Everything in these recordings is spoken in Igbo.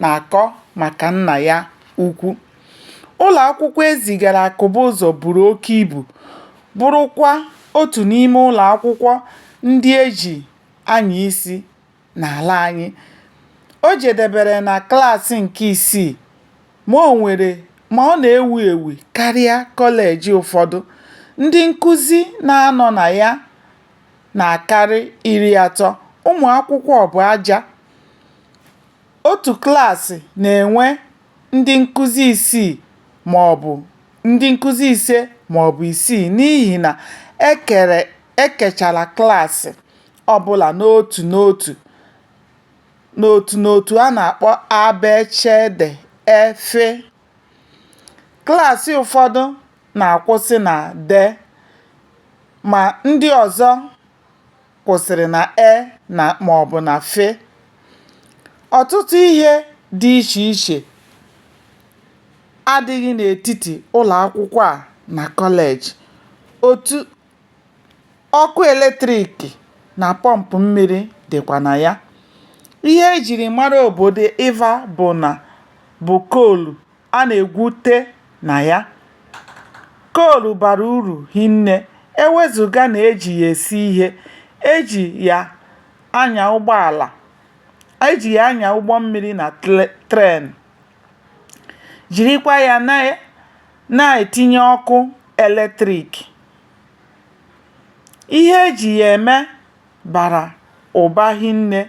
na-akọ maka nna ya ukwu. Ụlọ akwụkwọ e zigara Akụbụzọ buru oke ibu, bụrụkwa otu n'ime ụlọ akwụkwọ ndị e ji anya isi n'ala anyị. O jedebere na klaasị nke isii, ma o nwere ma ọ na-ewu ewu karịa kọleji ụfọdụ. Ndị nkụzi na-anọ na ya na-akarị iri atọ, ụmụ akwụkwọ bụ aja. Otu klaasị na-enwe ndị nkụzi isii maọbụ ndị nkụzi ise maọbụ isii n'ihi na e kere e kechara klaasị ọbụla n'otu n'otu n'otu n'otu a na-akpọ a, b, ch, d, e, f. Klaasị ụfọdụ na-akwụsị na d ma ndị ọzọ kwụsịrị na e na ma ọ bụ na f. Ọtụtụ ihe dị iche iche adịghị n'etiti ụlọ akwụkwọ a na kọleji. Otu ọkụ eletrik na pọmpụ mmiri dịkwa na ya. Ihe e jiri mara obodo Ịva bụ na bụ koolu. a na-egwute na ya. Koolu bara uru hinne e wezụga na e ji ya esi ihe, e ji ya anya ụgbọala, e ji ya anya ụgbọ mmiri na tren, jirikwa ya na-etinye ọkụ eletrik. Ihe e ji ya eme bara ụba hinne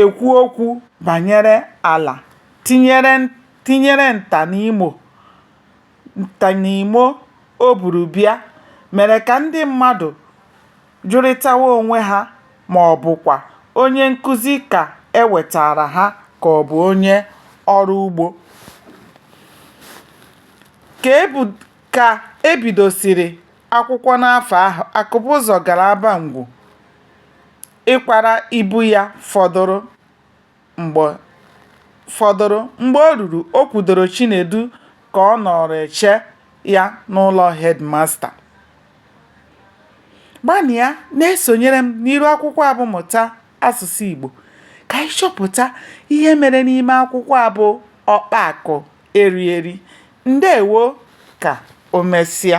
ekwu okwu banyere ala tinyere nta nta n'imo o buru bịa mere ka ndị mmadụ jụrịtawa onwe ha ma ọ bụkwa onye nkụzi ka e wetaara ha ka ọ bụ onye ọrụ ugbo. Ka e bud ka e bidosiri akwụkwọ n'afọ ahụ, Akụbụzọ gara Abangwu. ịkwara ibu ya fọdụrụ fọdụrụ. Mgbe o ruru, o kwudoro Chinedu ka ọ nọrọ eche ya n'ụlọ headmaster. Gbanịa na-esonyere m n'iru akwụkwọ a bụ Mụta Asụsụ Igbo ka anyị chọpụta ihe mere n'ime akwụkwọ a bụ Ọkpa Akụ Eri Eri. Ndewo ka o mesịa.